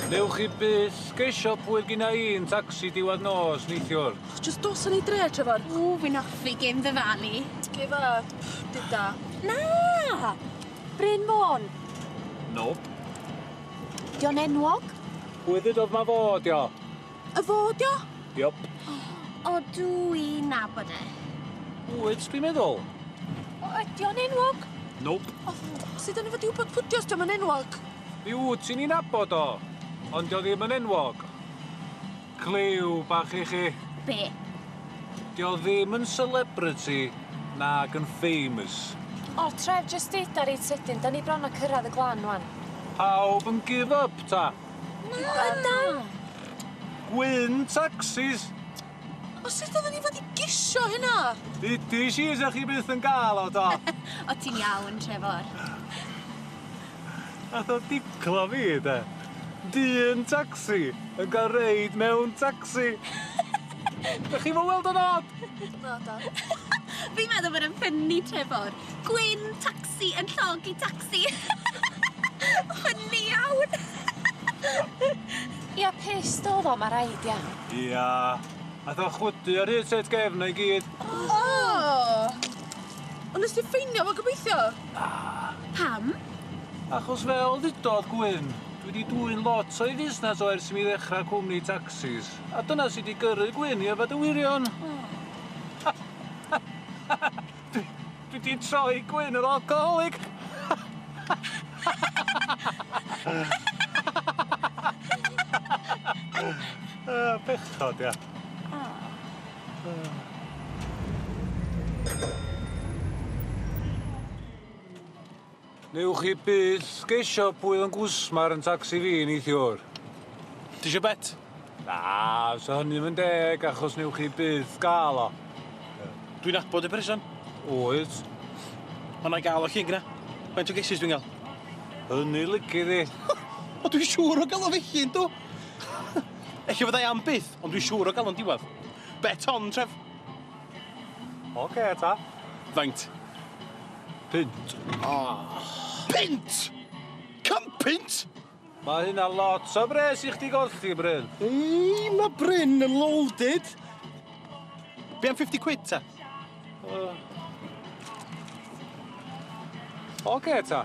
Newch chi byth geisio pwy gyna i yn tacsi diwadd nos, neithiwr. Ych, just dos yn ei dre, Trevor. O, fi'n offi gêm dy falu. Ge fa, dyda. Na! Bryn Môn. Nope. Di o'n enwog? Pwy ddydodd ma fo, di o? Y fo 'di o? Yep. O dw i'n nabod e. Wyt, dwi'n meddwl. O, ydi o'n enwog? Nope. O, sut o'n i fod i wybod pwdio os diom yn enwog? Mi wyt ti'n ei nabod o, ond dio ddim yn enwog. Clyw bach i chi. Be? Dio ddim yn celebrity nag yn famous. O, Trev, jyst deud ar reit sydyn, da ni bron a cyrraedd y glan wan. Pawb yn give up ta? Na, na! Gwyn tacsis! O sut odden ni fod i gisio hynna? Dudis i sa chi byth yn ga'l o do? O ti'n iawn, Trefor. Nath o diclo fi de. Dyn tacsi yn ga'l reid mewn tacsi. Dych chi'm yn weld o'n od? Naddo. Fi'n meddwl bod e'n ffynni, Trefor. Gwin tacsi yn llogi tacsi. Hwn ni iawn! Ia pissed odd o ma raid ia. Ia. Ath o'n chwydu ar hyd set gefn o i gyd. Oh! Ond nes ti ffeinio fo gobeithio? Na. Pam? Achos fel ddudodd Gwyn, dwi di dwyn lot o'i fusnes o ers i mi ddechra cwmni tacsis, a dyna sy di gyrru Gwyn i yfed y wirion. Dwi, dwi di troi gwyn yr alcoholic! uh, bechod, ia. Oh. Newch chi byth gesio pwy oedd yn gwsmar yn tacsi fi neithiwr. Ti isio bet? Na, so hynny ddim yn deg achos newch chi byth gael o. Dwi'n adbod y person. Oes. Ond na i gael o llun gyna. Faint o gesus dwi'n gael? Hynny lygu ddi. o dwi'n siŵr o gael o felly yndw. Ella fyddai am byth, ond dwi'n siŵr o gael o'n diwedd. Bet on, Trev. Oce, okay, ta. Faint? Pint. Oh. Pint! Cam pint! Mae hynna lot o bres i chdi golli, Bryn. Ei, mae Bryn yn loaded. Be am 50 quid, ta? Uh. Oce, okay, ta.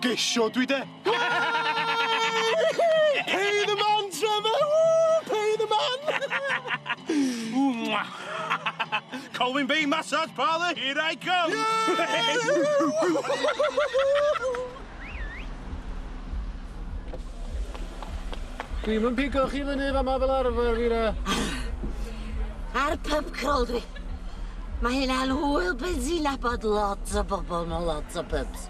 Gesio dwi de! Pay the man, Trevor! Woo! Pay the man! Ww, mwa! Colwyn Bay Massage Parlour, here I come! Dwi'm yn pigo chi fyny fama fel arfer, Fira. Ar pub crawl dwi. Mae hyn hwyl benzina bod lot o bobl mewn lot o pubs.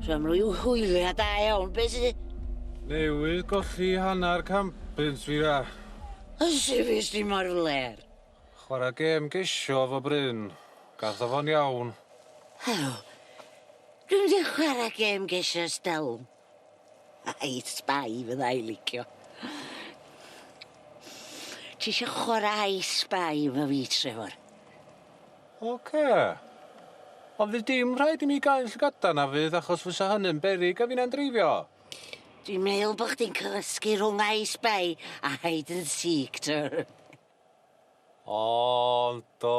So am ryw hwylia da iawn, be sy... Newydd golli hanner cambins fi ra. Ysi fi sti mor fler. Chwara gêm gesio efo Bryn. Gath o fo'n iawn. Helo. Dwi'n mynd i chwara gêm gesio stel. Ai sbai fydda i licio. Ti isio chwara ai sbai efo fi, Trevor? Ok. Ond fydd dim rhaid i mi gau'n llygada na fydd achos fysa hynny'n beryg a finna'n dreifio. Dwi'n meddwl bod chdi'n cysgu rhwng I Spy a Hide and Seek twr. Ond do.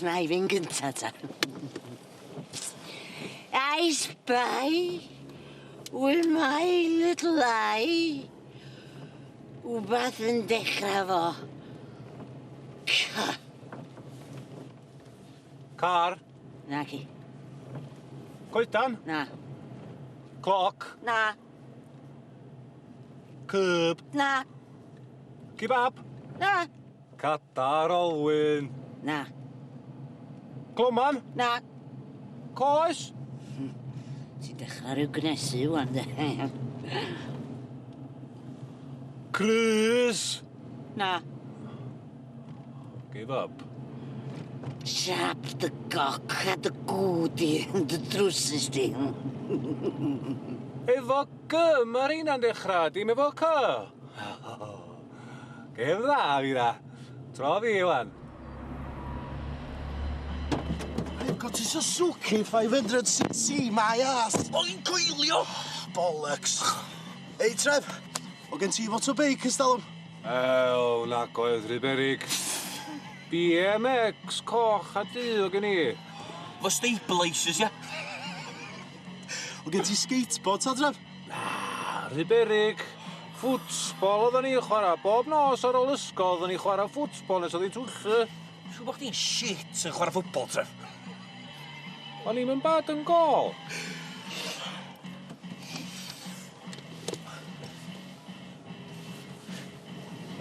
Wna i fynd gynta ta. I spy with my little eye. Wbath yn dechra fo C. Car. Naci. Coedan? Na. Cloc? Na. Cyb? Na. Kebab? Na. Cadar Olwyn. Na. Cloman? Na. Coes? Hmm. Ti'n dechrau rhyw gnesu wan, de. Crys? Na. Give up. Siap dy goc a dy gŵd i, dy drwsus di. efo gy, mae rheina'n dechrau, dim efo cy. Gêm dda, Fira. Tro fi, Iwan. I've got a Suzuki 500cc, my ass. O'n i'n coelio! Bollocks. Ei, Trev, o gen ti fot o beic ys dalwm? Ew, na goedd rhy berig. BMX, coch a du o gen i. Fo stabilisers, ia? O gen ti skateboard, ta, Trev? Ah, rhy beryg. Ffwtsbol oedden ni'n chwarae bob nos ar ôl ysgol, oedden ni'n chwarae ffwtsbol nes oedd hi'n twyllu. Siw bod chdi'n shit yn chwarae ffwtbol, Trev. O'n i'm yn bad yn gol.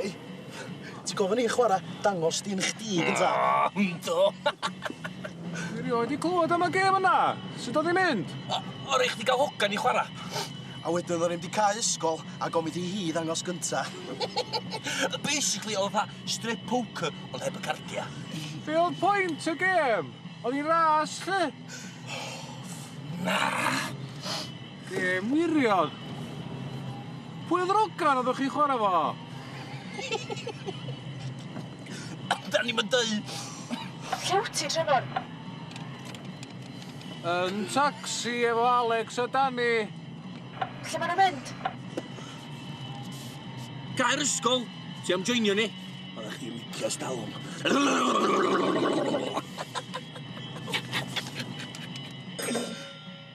Ei! Ti'n gofyn i fi chwara dangos dyn chdi gynta? O! Yndw! Dwi rioed di clwad am y gem yna! Sud odd i'n mynd? O- o' rei chdi ga'l hogan i chwara. A wedyn o'n i'm di cau ysgol a gofyn ithi hi ddangos gynta. Basically o'dd o fatha strip poker ond heb y cardia. Be' o'dd point y gem? O'dd i'n ras lly? Na! Ie, wirion! Pwy oedd yr ogan oeddech chi'n chwarae fo? Da ni'm yn deud! Lle wyt ti, Trefor? Yn tacsi efo Alex a Dani. Lle maen nhw'n mynd? Gair ysgol! Ti am joinio ni? Oeddech chdi licio stalwm.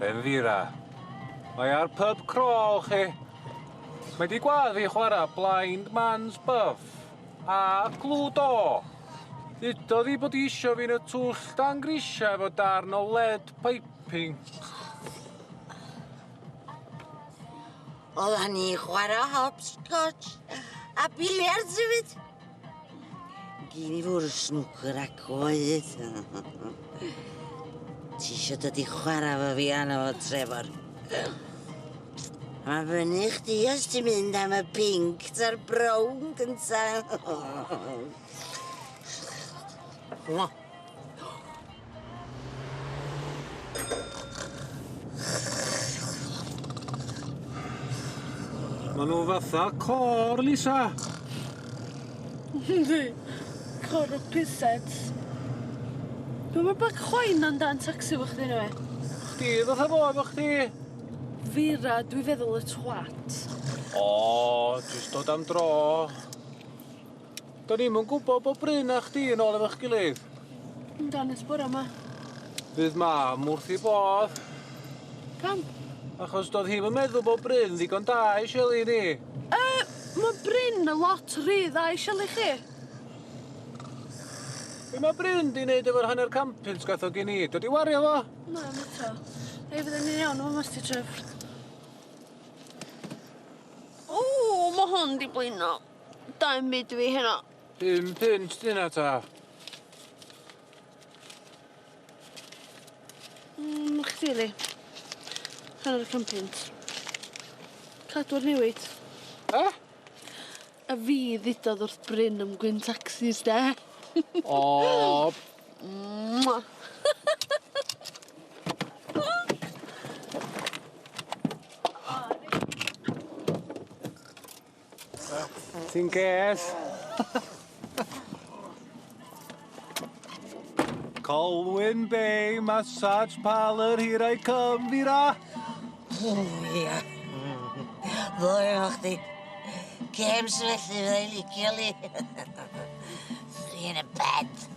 Benfira. Mae ar pub crawl chi. Mae di gwad fi chwara blind man's buff. A cludo. Dudodd i bod isio fi'n y twll dan grisia efo darn o lead piping. Oeddan ni chwarae hopscotch a biliards hefyd. Gyn i fwrw snwcer a coed. Ti eisiau dod i chwarae fo fi anna fo, Trevor? Mae fyny chdi os ti'n mynd am y pink ta'r brown gynta. Maen nhw fatha côr, Lisa! Yndi, côr o pusets. Be mae Black Chwain yn dan tacsi efo chdi neu be? Chdi fatha fo efo chdi. Fira, dwi feddwl y twat. O, jyst dod am dro. Do'n i'm yn gwybod bod Bryn a chdi yn ôl efo'ch gilydd. Yn ganys bore ma. Bydd mam wrth ei bodd. Pam? Achos doedd hi'm yn meddwl bod Bryn ddigon da i Shelley ni. Yy, mae Bryn yn lot rhy dda i Shelley chi. Be mae Bryn di wneud efo'r hanner campins gath o gen i? Dod i wario fo? Na, am eto. Ei, fydden ni'n iawn efo mas ti tref. O, mae hwn di blino. Dau mud dwi heno. Pum punt dyna ta? Mm, chdi li. Hanner can punt. Cadw'r newid. E? A fi ddudodd wrth Bryn am gwyn taxis de. O! Mwah. Ti'n ges? Colwyn Bay Massage Parlour, here I come, Fira! O, ia. Ddoi efo chdi. Gems felly, fydda i licio li. Free in a bed.